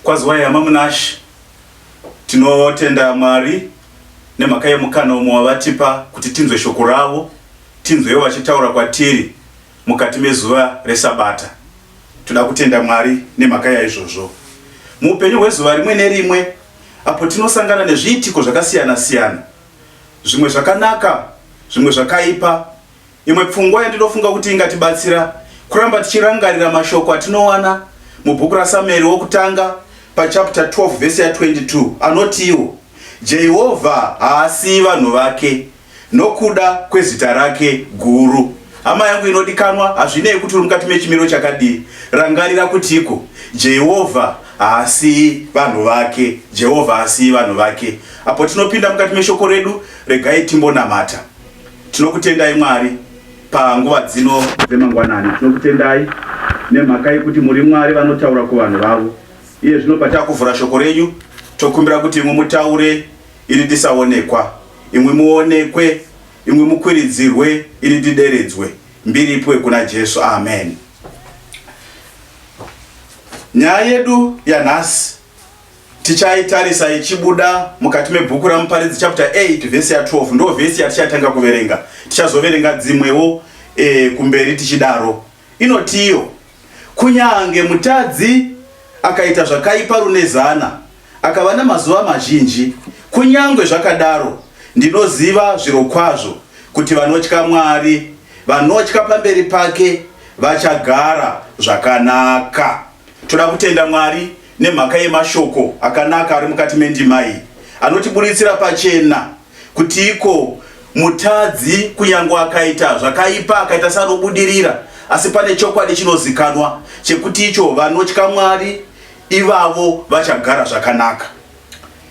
Kwaziwai hama Munashe, tinotenda Mwari nemhaka yemukana umwe wavatipa kuti tinzwe shoko ravo, tinzwewo vachitaura kwatiri mukati mezuva reSabata. Toda kutenda Mwari nemhaka yaizvozvo. Muupenyu hwezuva rimwe nerimwe apo tinosangana nezviitiko zvakasiyana-siyana, zvimwe zvakanaka, zvimwe zvakaipa, Imwe pfungwa yandinofunga kuti ingatibatsira kuramba tichirangarira mashoko atinowana mubhuku raSamueri wokutanga pachapta 12 vhesi ya 22 anotiwo, Jehovha haasiyi vanhu vake nokuda kwezita rake guru. Hama yangu inodikanwa, hazvinei kuti uri mukati mechimiro chakadii, rangarira kutiko, Jehovha haasiyi vanhu vake. Jehovha haasiyi vanhu vake. Apo tinopinda mukati meshoko redu, regai timbonamata. Tinokutendai Mwari panguva dzino dzemangwanani. Tinokutendai nemhaka yekuti muri Mwari vanotaura kuvanhu vavo. Iye zvino patakuvhura shoko renyu, tokumbira kuti imwe mutaure iri tisaonekwa, imwe muonekwe, imwe mukwiridzirwe iri tideredzwe. Mbiri ipuwe kuna Jesu. Amen. Nyaya yedu yanhasi Tichaitarisa ichibuda mukati mebhuku raMuparidzi chapter 8 vhesi ya 12 ndo vhesi yatichatanga kuverenga. Tichazoverenga dzimwewo e, kumberi tichidaro. Inotiyo kunyange mutadzi akaita zvakaipa rune zana akava namazuva mazhinji, kunyange zvakadaro ndinoziva zvirokwazvo kuti vanotya Mwari vanotya pamberi pake vachagara zvakanaka. Toda kutenda Mwari Nemhaka yemashoko akanaka ari mukati mendima iyi anotiburitsira pachena kuti iko mutadzi kunyange akaita zvakaipa akaita sanobudirira asi pane chokwadi chinozikanwa chekuti icho vanotya Mwari ivavo vachagara zvakanaka.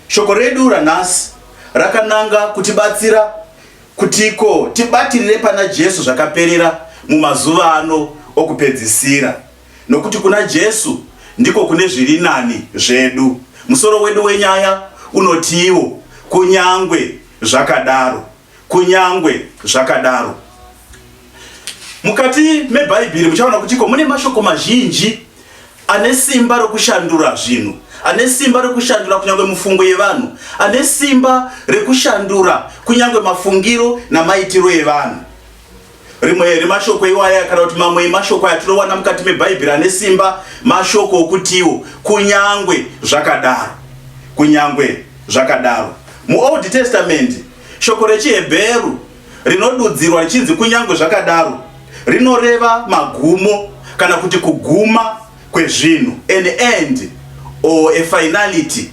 Shoko redu ranhasi rakananga kutibatsira kuti iko tibatirire pana Jesu zvakaperera mumazuva ano okupedzisira. Nokuti kuna Jesu ndiko kune zviri nani zvedu. Musoro wedu wenyaya unotiwo kunyangwe zvakadaro, kunyangwe zvakadaro. Mukati meBhaibheri muchaona kuti ko mune mashoko mazhinji ane simba rokushandura zvinhu ane simba rekushandura kunyange mufungo yevanhu ane simba rekushandura kunyange mafungiro namaitiro evanhu Rimwe remashoko iwaya kana kuti mamwe emashoko aya tinowana mukati meBhaibheri ane simba, mashoko okutiwo kunyangwe zvakadaro. Kunyangwe zvakadaro. MuOld Testament, shoko rechiHebheru rinodudzirwa richinzi kunyangwe zvakadaro rinoreva magumo kana kuti kuguma kwezvinhu, an end or a finality.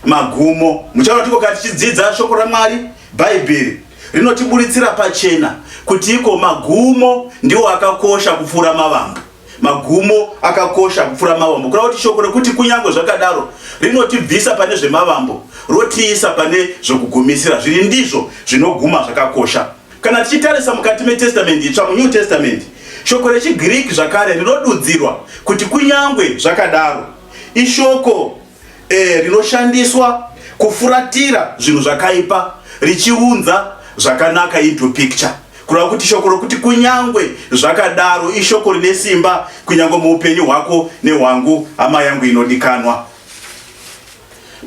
Magumo, muchaona tikoka tichidzidza shoko raMwari, Bhaibheri rinotiburitsira pachena kuti iko magumo ndiwo akakosha kupfuura mavambo magumo akakosha kupfuura mavambo kureva kuti shoko rekuti kunyange zvakadaro rinotibvisa pane zvemavambo rotiisa pane zvokugumisira zviri ndizvo zvinoguma zvakakosha kana tichitarisa mukati metestamende itsva munew testament shoko rechigiriki zvakare rinodudzirwa kuti kunyange zvakadaro ishoko e, rinoshandiswa kufuratira zvinhu zvakaipa richiunza zvakanaka into picture kureva kuti shoko rokuti kunyangwe zvakadaro ishoko rine simba kunyangwe muupenyu hwako nehwangu hama yangu inodikanwa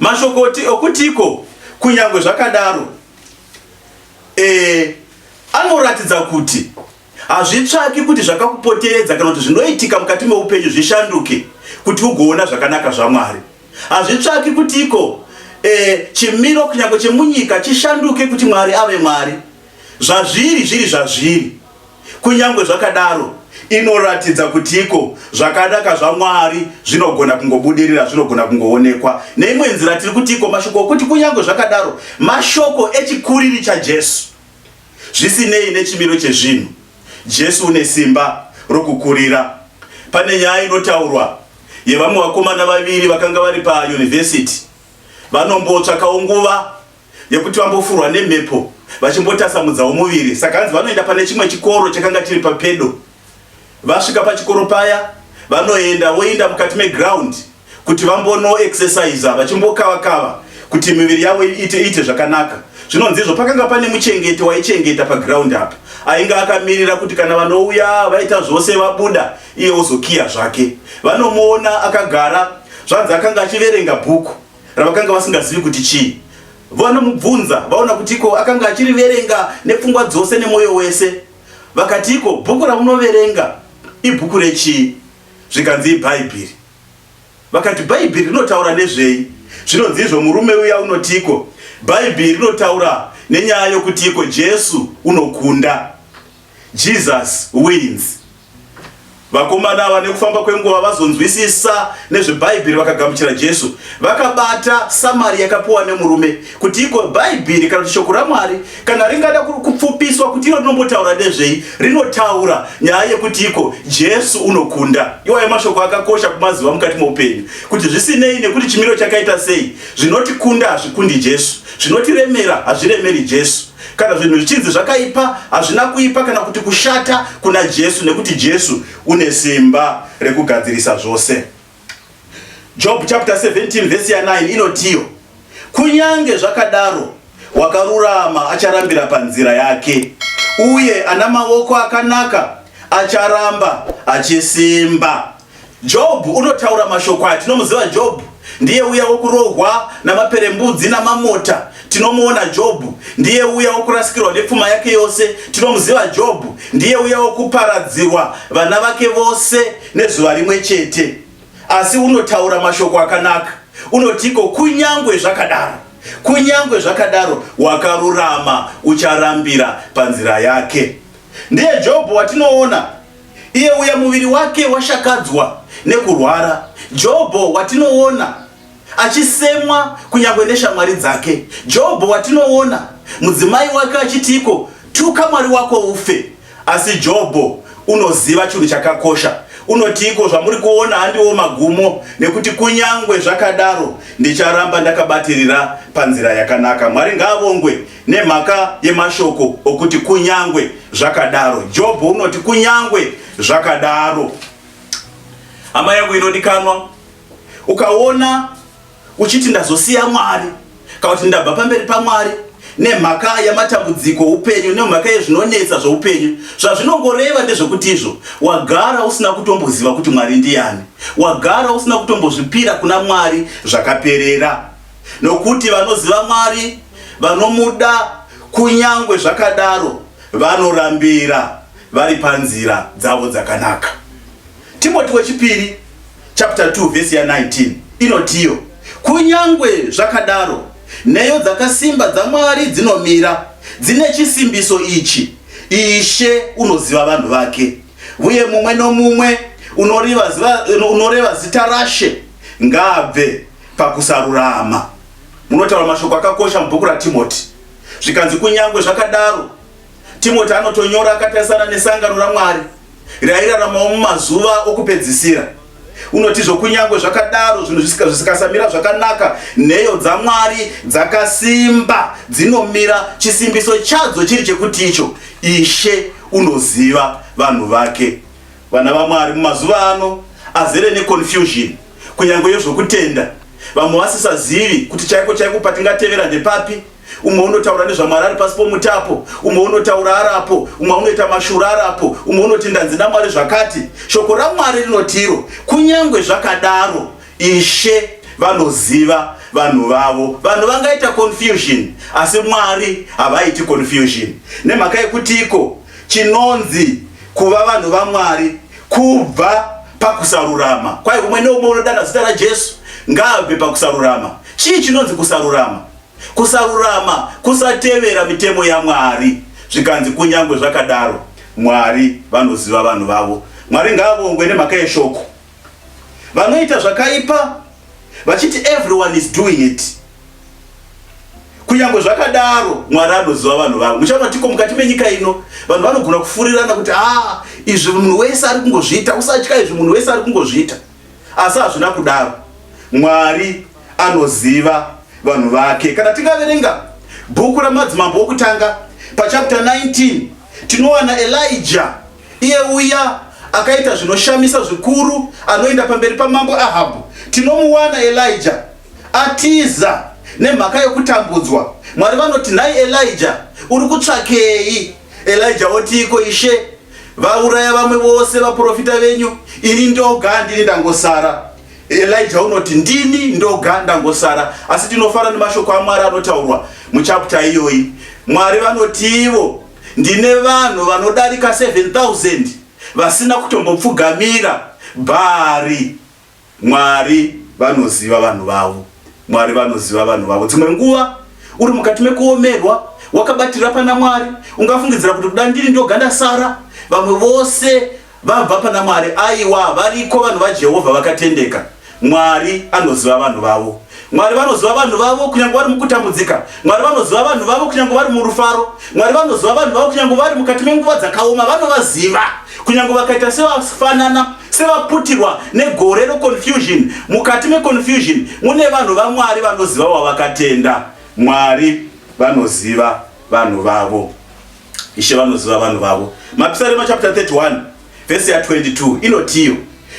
mashokoti okutiko kunyangwe zvakadaro e, anoratidza kuti Hazvitsvaki kuti zvakakupoteredza kana kuti zvinoitika mukati meupenyu zvishanduke kuti ugoona zvakanaka zvaMwari. Hazvitsvaki kuti iko e, chimiro kunyange chemunyika chishanduke kuti Mwari ave Mwari. Zvazviri zviri zvazviri. Kunyange zvakadaro, inoratidza kuti iko zvakanaka zvaMwari zvinogona kungobudirira, zvinogona kungoonekwa. Neimwe nzira tiri kuti iko mashoko okuti kunyange zvakadaro mashoko echikuriri chaJesu. Zvisinei nechimiro chezvinhu, Jesu une simba rokukurira. Pane nyaya inotaurwa yevamwe vakomana vaviri vakanga vari payunivhesiti. Vanombotsvakawo nguva yekuti vambofurwa nemhepo vachimbotasamudzawo muviri. Saka hanzi vanoenda pane chimwe chikoro chakanga chiri papedo. Vasvika pachikoro paya vanoenda voinda mukati meground kuti vambono exercise vachimbokava kava kuti miviri yavo iite iite zvakanaka zvinonzi izvo pakanga pane muchengeti waichengeta paground apa ainge akamirira kuti kana vanouya vaita zvose vabuda iye ozokiya zvake vanomuona akagara zvanzi akanga achiverenga bhuku ravakanga vasingazivi kuti chii vanomubvunza vaona kuti iko akanga achiriverenga nepfungwa dzose nemwoyo wese Vakatiiko, Bhuku ramunoverenga ibhuku rechii? Zvikanzi, IBhaibheri. Vakati, Bhaibheri rinotaura nezvei? Zvinonzi izvo, Murume uya unotiiko? Bhaibheri rinotaura nenyaya yokutiiko? Jesu unokunda. Jesus wins. Vakomana ava nekufamba kwenguva vazonzwisisa nezveBhaibheri vakagamuchira Jesu. Vakabata samari yakapiwa nemurume kuti iko Bhaibheri kana kuti shoko raMwari kana ringada kupfupiswa kuti iro rinombotaura nezvei, rinotaura nyaya yekuti iko Jesu unokunda. Iwayo mashoko akakosha kumaziva mukati moupenyu kuti zvisinei nekuti chimiro chakaita sei, zvinotikunda hazvikundi Jesu, zvinotiremera hazviremeri Jesu. Kana zvinhu zvichinzi zvakaipa, hazvina kuipa kana kuti kushata kuna Jesu nekuti Jesu une simba rekugadzirisa zvose. Job chapter 17 verse ya 9 inotiyo, kunyange zvakadaro wakarurama acharambira panzira yake, uye ana maoko akanaka acharamba achisimba. Jobhu unotaura mashoko aya tinomuziva Jobhu ndiye uya wokurohwa namaperembudzi namamota tinomuona Jobhu ndiye uya wokurasikirwa nepfuma yake yose tinomuziva Jobhu ndiye uya wokuparadzirwa vana vake vose nezuva rimwe chete asi unotaura mashoko akanaka unotiko kunyangwe zvakadaro kunyangwe zvakadaro wakarurama ucharambira panzira yake ndiye Jobhu watinoona Iye uya muviri wake washakadzwa nekurwara, Jobho watinoona achisemwa kunyangwe neshamwari dzake, Jobho watinoona mudzimai wake achitiiko, tuka Mwari wako ufe. Asi Jobho unoziva chinhu chakakosha, unotiiko, zvamuri kuona handiwo magumo, nekuti kunyangwe zvakadaro ndicharamba ndakabatirira panzira yakanaka. Mwari ngaavongwe. Nemhaka yemashoko okuti kunyangwe zvakadaro, Jobho unoti kunyangwe zvakadaro. Hama yangu inodikanwa, ukaona uchiti ndazosiya Mwari kana kuti ndabva pamberi paMwari nemhaka yamatambudziko upenyu nemhaka yezvinonetsa zveupenyu zvazvinongoreva ndezvekuti izvo wagara usina kutomboziva kuti mwari ndiyani wagara usina kutombozvipira kuna mwari zvakaperera Nokuti vanoziva Mwari, vanomuda, kunyangwe zvakadaro vanorambira vari panzira dzavo dzakanaka. Timoti wechipiri chapter 2 verse ya 19 inotiyo, kunyangwe zvakadaro nheyo dzakasimba dzaMwari dzinomira dzine chisimbiso ichi, Ishe unoziva vanhu vake, uye mumwe nomumwe unoreva zita rashe ngaabve pakusarurama. Munotaura mashoko akakosha mubhuku raTimoti. Zvikanzi kunyangwe zvakadaro, Timoti anotonyora akatarisana nesangano raMwari rairaramawo mumazuva okupedzisira. Unotizvo kunyangwe zvakadaro zvinhu zvisikasamira zvakanaka, nheyo dzaMwari dzakasimba dzinomira, chisimbiso chadzo chiri chekuti icho, Ishe unoziva vanhu vake. Vana vaMwari mumazuva ano azere neconfusion kunyange yezvokutenda. Vamwe vasisazivi kuti chaiko chaiko patingatevera ndepapi. Umwe unotaura nezvaMwari ari pasi pomuti apo, umwe unotaura ari apo, umwe unoita mashura ari apo, umwe unoti ndanzi naMwari zvakati. Shoko raMwari rinoti iro, kunyange zvakadaro Ishe vanoziva vanhu vavo. Vanhu vangaita confusion asi Mwari havaiti confusion. Nemhaka yekutiiko? chinonzi kuva vanhu vaMwari kubva pakusarurama kwaye umwe neumwe unodana zita raJesu ngaabve pakusarurama. Chii chinonzi kusarurama? Kusarurama kusatevera mitemo yaMwari. Zvikanzi kunyange zvakadaro Mwari vanoziva vanhu vavo. Mwari ngaavongwe nemhaka yeshoko. vanoita zvakaipa vachiti everyone is doing it kunyange zvakadaro mwari anoziva vanhu vavo muchaona tiko mukati menyika ino vanhu vanogona kufurirana kuti a ah, izvi munhu wese ari kungozviita usatya izvi munhu wese ari kungozviita asi hazvina kudaro mwari anoziva vanhu vake kana tingaverenga bhuku ramadzimambo okutanga pachapter 19 tinowana elija Iye uya akaita zvinoshamisa zvikuru anoenda pamberi paMambo Ahabhu, tinomuwana Elijah atiza nemhaka yokutambudzwa. Mwari vanoti, Nhai Elijah, uri kutsvakei? Elijah otiiko, Ishe, vauraya vamwe vose vaprofita venyu, ini ndoga ndini ndangosara. Elijah unoti, Ndini ndoga ndangosara. Asi tinofara nemashoko aMwari anotaurwa muchapta iyoyi. Mwari vanotiivo, Ndine vanhu vanodarika 7000 vasina kutombopfugamira Bhaari. Mwari vanoziva vanhu vavo. Mwari vanoziva vanhu vavo. Dzimwe nguva uri mukati mekuomerwa wakabatira pana Mwari, ungafungidzira kuti kuda ndiri ndoga ndasara, vamwe vose Vabva pana Mwari. Aiwa, variko vanhu vaJehovha vakatendeka. Mwari anoziva vanhu vavo. Mwari vanoziva vanhu vavo kunyange vari mukutambudzika. Mwari vanoziva vanhu vavo kunyange vari murufaro. Mwari vanoziva vanhu vavo kunyange vari mukati menguva dzakaoma. Vanovaziva kunyange vakaita sevafanana sevaputirwa negore reconfusion. Mukati meconfusion mune vanhu vaMwari vanoziva wavakatenda. Mwari vanoziva vanhu vavo. Ishe vanoziva vanhu vavo. Mapisarema chapter 31 vhesi ya 22 inotiyo,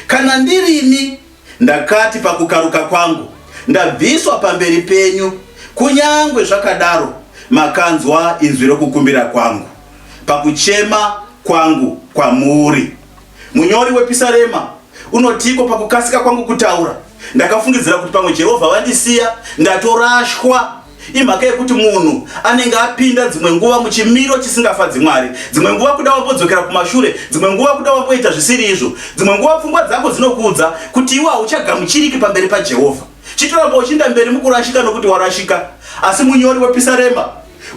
kana ndirini ndakati pakukaruka kwangu ndabviswa pamberi penyu, kunyangwe zvakadaro makanzwa inzwi rokukumbira kwangu pakuchema kwangu kwamuri. Munyori wepisarema unotiko pakukasika kwangu kutaura ndakafungidzira kuti pamwe Jehovha vandisiya ndatorashwa. Imhaka yekuti munhu anenge apinda dzimwe nguva muchimiro chisingafadzi Mwari. Dzimwe nguva kuda wambodzokera kumashure, dzimwe nguva kuda wamboita zvisiri izvo. Dzimwe nguva pfungwa dzako dzinokuudza kuti iwe hauchagamuchiriki pamberi paJehovha. Chitoramba uchiinda mberi mukurashika nokuti warashika. Asi munyori wepisarema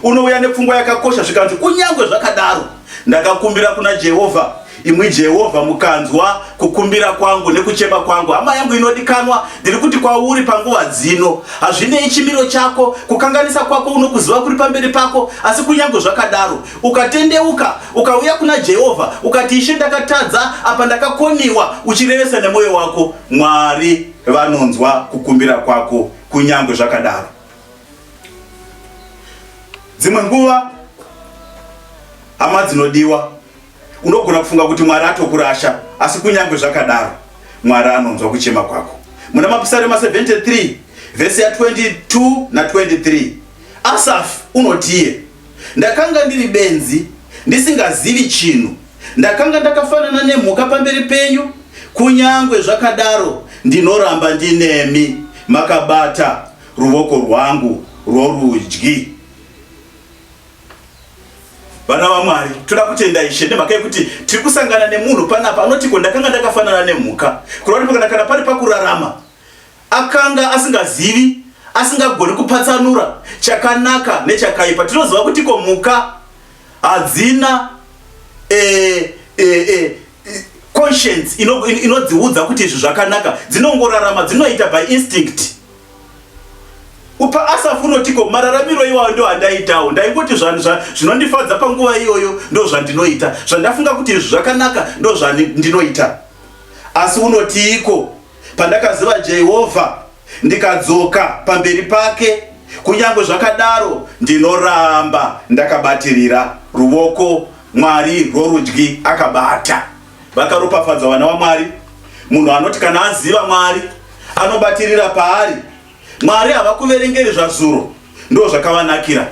unouya nepfungwa yakakosha zvikanzi, Kunyange zvakadaro, ndakakumbira kuna Jehovha Imwi Jehovha, mukanzwa kukumbira kwangu nekuchema kwangu. Hama yangu inodikanwa, ndiri kuti kwauri panguva dzino, hazvinei chimiro chako, kukanganisa kwako, unokuziva kuri pamberi pako. Asi kunyange zvakadaro, ukatendeuka, ukauya kuna Jehovha, ukati, Ishe, ndakatadza, apa ndakakoniwa, uchirevesa nemwoyo wako, Mwari vanonzwa kukumbira kwako kunyange zvakadaro. Dzimwe nguva, hama dzinodiwa, Unogona kufunga kuti Mwari atokurasha, asi kunyange zvakadaro, Mwari anonzwa kuchema kwako. Muna Mapisarema 73 vhesi ya 22 na 23 Asafi unotiye, ndakanga ndiri benzi ndisingazivi chinhu, ndakanga ndakafanana nemhuka pamberi penyu, kunyange zvakadaro ndinoramba ndinemi, makabata ruvoko rwangu rworudyi. Vana vaMwari, toda kutenda Ishe nemhaka yekuti tiri kusangana nemunhu panapa anoti ko ndakanga ndakafanana nemhuka, kureva kuti kana pari pakurarama akanga asingazivi, asingagoni kupatsanura chakanaka nechakaipa. Tinoziva kuti ko mhuka hadzina eh, eh, eh, conscience inodziudza kuti izvi zvakanaka, dzinongorarama, dzinoita by instinct. Upa Asafu unotiko mararamiro iwayo ndo andaitawo ndaingoti zvanhu zvinondifadza panguva iyoyo ndo zvandinoita zvandafunga kuti izvi zvakanaka ndo zvandinoita asi unotiiko pandakaziva Jehovha ndikadzoka pamberi pake kunyange zvakadaro ndinoramba ndakabatirira ruvoko Mwari rworudyi akabata Vakaropafadzwa vana vaMwari. Munhu anoti kana aziva Mwari anobatirira paari. Mwari havakuverengeri zvazuro, ndo zvakavanakira,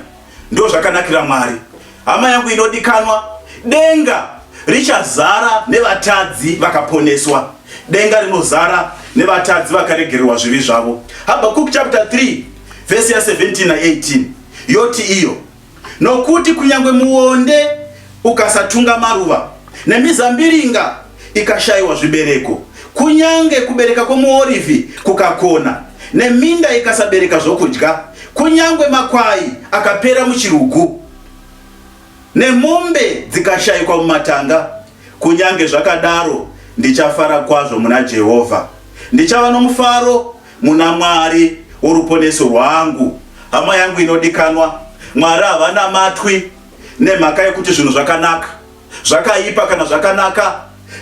ndo zvakanakira Mwari. Hama yangu inodikanwa, denga richazara nevatadzi vakaponeswa. Denga rinozara nevatadzi vakaregererwa zvivi zvavo. Habakuk chapter 3 vhesi ya 17 na 18 yoti iyo Nokuti kunyange muonde ukasatunga maruva, nemizambiringa ikashayiwa zvibereko, kunyange kubereka kwomuorivhi kukakona, neminda ikasabereka zvokudya, kunyange makwai akapera muchirugu, nemombe dzikashayikwa mumatanga, kunyange zvakadaro ndichafara kwazvo muna Jehovha, ndichava nomufaro Muna Mwari woruponeso rwangu, hama yangu inodikanwa, Mwari havanamatwi nemhaka yokuti zvinhu zvakanaka, zvakaipa kana zvakanaka,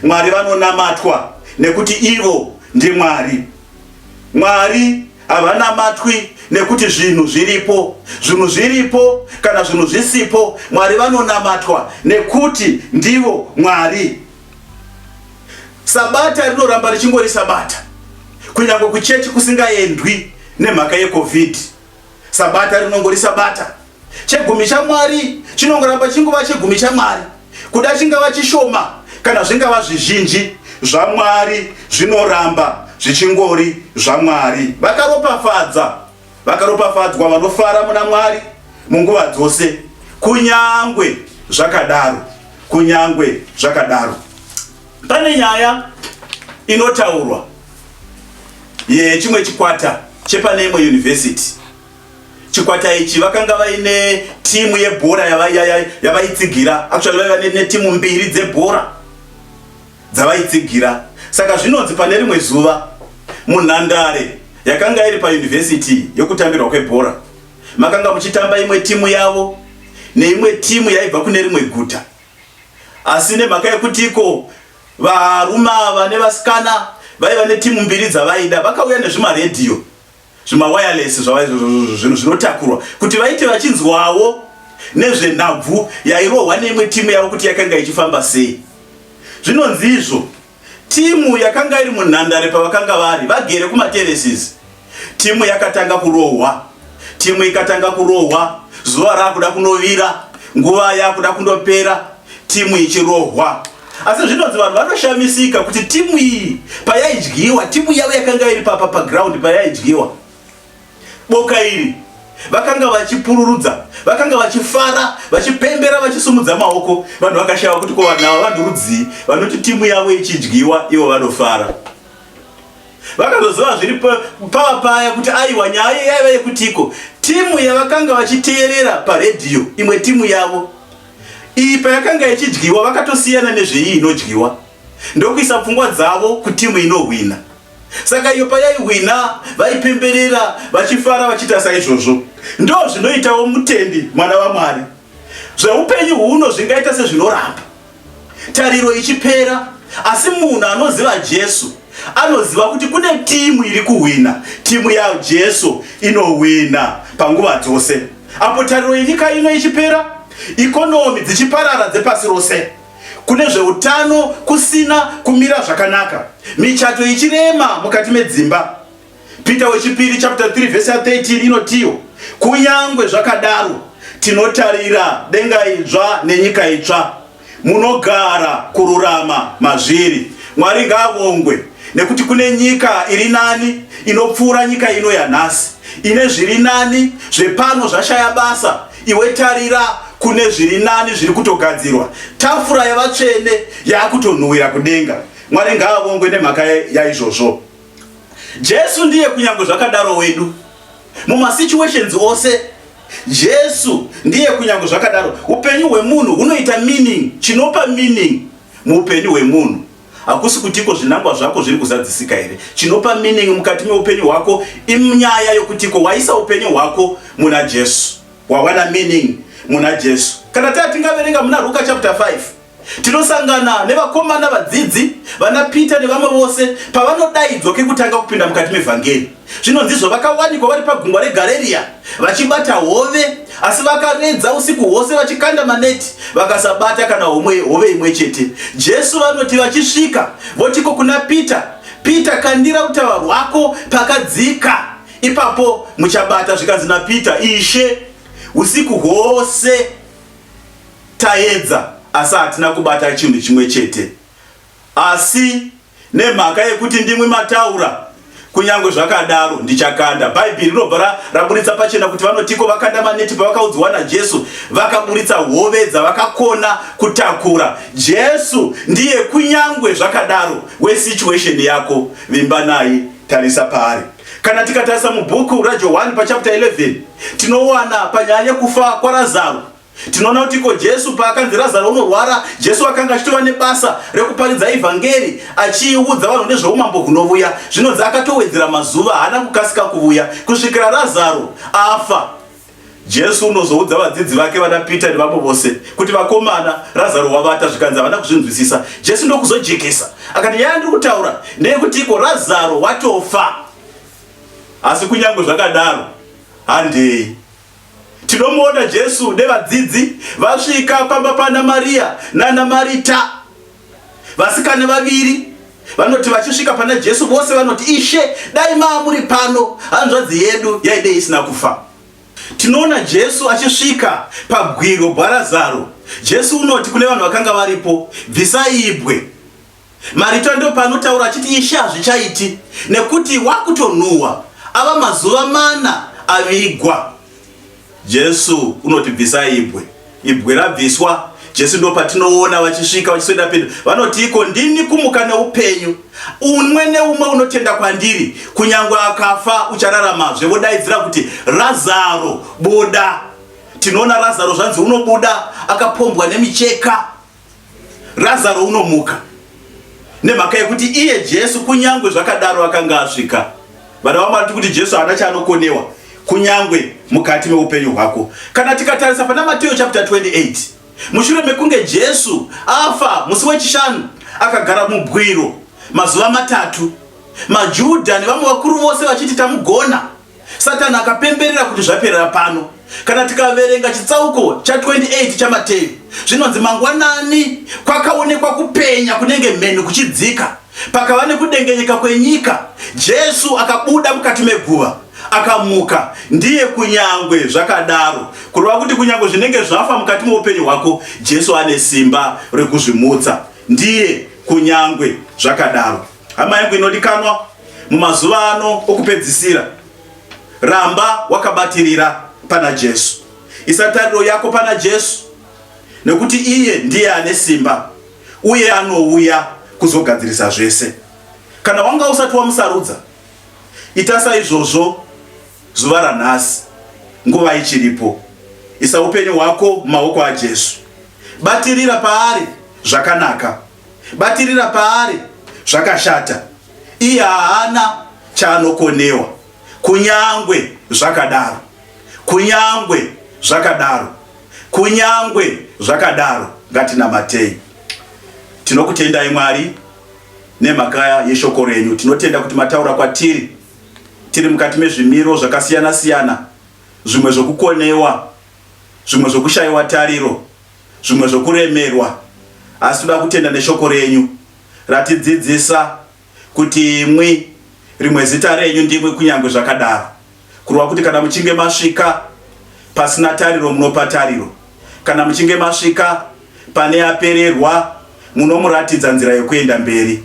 Mwari vanonamatwa nekuti ivo ndiMwari. Mwari havanamatwi nekuti zvinhu zviripo, zvinhu zviripo kana zvinhu zvisipo, Mwari vanonamatwa nekuti ndivo Mwari. Sabata rinoramba richingori sabata kunyange kuchechi kusingaendwi nemhaka yecovid. Sabata rinongori sabata. Chegumi chaMwari chinongoramba chingova chegumi chaMwari, kuda chingava chishoma kana zvingava zvizhinji zvaMwari zvinoramba zvichingori zvaMwari. Vakaropafadza Vakaropafadzwa vanofara muna Mwari munguva dzose. Kunyangwe zvakadaro, kunyangwe zvakadaro, pane nyaya inotaurwa yechimwe chikwata chepane imwe yunivhesiti. Chikwata ichi vakanga vaine timu yebhora yavaitsigira, actually vaiva netimu mbiri dzebhora dzavaitsigira. Saka zvinonzi pane rimwe zuva munhandare yakanga iri payunivhesiti yokutambirwa kwebhora makanga muchitamba imwe timu yavo neimwe timu yaibva kune rimwe guta, asi nemhaka yekuti iko varume ava nevasikana vaiva netimu mbiri dzavaida, vakauya nezvimaredhiyo. zvimawayalesi zvava izvozvo zvinhu zvinotakurwa kuti vaite vachinzwawo nezvenhabvu yairohwa neimwe timu yavo kuti yakanga ichifamba sei zvinonzi izvo timu yakanga iri munhandare pavakanga vari vagere kumateresis timu yakatanga kurohwa timu ikatanga kurohwa zuva raakuda kunovira nguva yaakuda kundopera timu ichirohwa asi zvinonzi vanhu vanoshamisika kuti timu iyi payaidyiwa timu yavo yakanga iri papa paground payaidyiwa boka iri vakanga vachipururudza vakanga vachifara vachipembera vachisumudza maoko vanhu vakashava kuti ko vanhu ava vanhu rudzii vanoti timu yavo ichidyiwa ivo vanofara vakazoziva zviri pava paya kuti aiwa nyaya yaiva yekutiko timu yavakanga vachiteerera paredhiyo imwe timu yavo Iyi payakanga ichidyiwa vakatosiyana nezveiyi inodyiwa ndokuisa pfungwa dzavo kutimu inohwina. Saka iyo payaihwina vaipemberera vachifara vachiita saizvozvo. Ndo zvinoitawo mutendi mwana vaMwari. Zveupenyu huno zvingaita sezvinoramba tariro ichipera asi munhu anoziva Jesu anoziva kuti kune timu iri kuhwina, timu yaJesu inohwina panguva dzose. Apo tariro yenyika ino ichipera, ikonomi dzichiparara dzepasi rose, kune zveutano kusina kumira zvakanaka, michato ichirema mukati medzimba, Peter wechipiri chapter 3 verse 13 inotiwo, kunyangwe zvakadaro tinotarira denga idzva nenyika itsva. Munogara kururama mazviri. Mwari ngaavongwe nekuti kune nyika iri nani inopfuura nyika ino yanhasi ine zviri nani zvepano zvashaya basa. Iwe tarira kune zviri nani zviri kutogadzirwa. Tafura yavatsvene yakutonhuwira kudenga. Mwari ngaavongwe nemhaka yaizvozvo. Jesu ndiye kunyangwe zvakadaro wedu mumasituations ose Jesu ndiye kunyange zvakadaro upenyu hwemunhu hunoita meaning chinopa meaning muupenyu hwemunhu hakusi kutiko zvinangwa zvako zviri kuzadzisika here chinopa meaning mukati meupenyu hwako inyaya yokutiko waisa upenyu hwako muna Jesu wawana meaning muna Jesu kana taa tingaverenga muna Ruka chapter 5 Tinosangana nevakomana vadzidzi, vana Peter nevamwe vose pavanodaidzwa kekutanga kupinda mukati mevhangeri. Zvinonzizvo vakawanikwa vari pagungwa reGareria vachibata hove, asi vakaredza usiku hwose vachikanda maneti vakasabata kana homwe hove imwe chete. Jesu vanoti vachisvika votiko kuna Peter, Peter kandira utava hwako pakadzika, ipapo muchabata. Zvikanzi naPeter, Ishe, usiku hwose Taedza asi hatina kubata chinhu chimwe chete. Asi nemhaka yekuti ndimwi mataura, kunyange zvakadaro ndichakanda. Bhaibheri rinobva raburitsa pachena kuti vanotiko vakanda maneti pavakaudziwa naJesu, vakaburitsa hove dzavakakona kutakura. Jesu ndiye kunyange zvakadaro wesituation yako, vimba naye, tarisa paari. Kana tikatarisa mubhuku raJohwani pachapta 11 tinowana panyaya yekufa kwaRazaro tinoona kuti iko Jesu paakanzi Razaro unorwara, Jesu akanga achitova nebasa rekuparidza ivhangeri achiiudza vanhu nezveumambo hunovuya. Zvinonzi akatowedzera mazuva, haana kukasika kuvuya kusvikira Razaro afa. Jesu unozoudza vadzidzi vake vana Pita nevamwe vose kuti vakomana Razaro wavata zvikanzi havana kuzvinzwisisa. Jesu ndokuzojekesa akati nyaya ndiri kutaura ndeyekuti iko Razaro watofa. Asi kunyange zvakadaro handei tinomuona Jesu nevadzidzi vasvika pamba pana Mariya nana Marita Vasikana vaviri vanoti vachisvika pana Jesu vose vanoti, Ishe, dai maamuri pano, hanzvadzi yedu yaidei isina kufa. Tinoona Jesu achisvika pabwiro bwarazaro. Jesu unoti kune vanhu vakanga varipo, Bvisai ibwe. Marita ndopanotaura achiti, Ishe, hazvichaiti, nekuti wakutonhuhwa, ava mazuva mana avigwa. Jesu unoti bvisa ibwe. Ibwe rabviswa, Jesu ndopatinoona vachisvika vachisweda pedo. Vanoti iko ndini kumuka neupenyu. Umwe neumwe unotenda kwandiri, kunyange akafa uchararamazve. Vodaidzira kuti Razaro, buda. Tinoona Razaro zvanzi unobuda akapombwa nemicheka. Razaro unomuka nemhaka yekuti iye Jesu kunyangwe zvakadaro akanga asvika. Vana vamwari tiri kuti Jesu haana chaanokonewa kunyangwe mukati meupenyu hwako. Kana tikatarisa pana Mateo chapter 28 mushure mekunge Jesu afa musi wechishanu akagara mubwiro mazuva matatu, maJuda nevamwe vakuru vose vachiti tamugona Satani akapemberera kuti zvaperera pano. Kana tikaverenga chitsauko cha 28 chaMateyu, zvinonzi mangwanani kwakaonekwa kupenya kunenge mheni kuchidzika. Pakava nekudengenyeka kwenyika, Jesu akabuda mukati meguva akamuka ndiye kunyangwe zvakadaro kureva kuti kunyangwe zvinenge zvafa mukati meupenyu hwako jesu ane simba rekuzvimutsa ndiye kunyangwe zvakadaro Hama yangu inodikanwa, mumazuva ano okupedzisira, ramba wakabatirira pana Jesu. Isa tariro yako pana Jesu, nekuti iye ndiye ane simba uye anouya kuzogadzirisa zvese. Kana wanga usati wamusarudza, ita saizvozvo zuva ranhasi, nguva ichiripo. Isa upenyu hwako mumaoko aJesu, batirira paari zvakanaka. batirira paari zvakashata iye haana chaanokonewa kunyangwe zvakadaro kunyangwe zvakadaro kunyangwe zvakadaro ngatinamatei tinokutendai mwari nemhaka yeshoko renyu tinotenda kuti mataura kwatiri tiri mukati mezvimiro zvakasiyana siyana zvimwe zvokukonewa zvimwe zvokushayiwa tariro zvimwe zvokuremerwa, asi toda kutenda neshoko renyu ratidzidzisa kuti imwi rimwe zita renyu ndimwi kunyangwe zvakadaro kurwa kuti kana muchinge masvika pasina tariro munopa tariro kana muchinge masvika pane apererwa munomuratidza nzira yokuenda mberi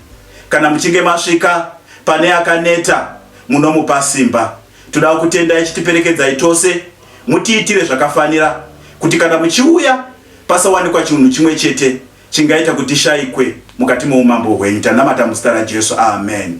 kana muchinge masvika pane akaneta munomupa simba Toda kukutendai chitiperekedzai tose mutiitire zvakafanira kuti kana muchiuya pasawanikwa chinhu chimwe chete chingaita kuti tishaikwe mukati moumambo hwenyu. Tanamata muzita raJesu. Amen.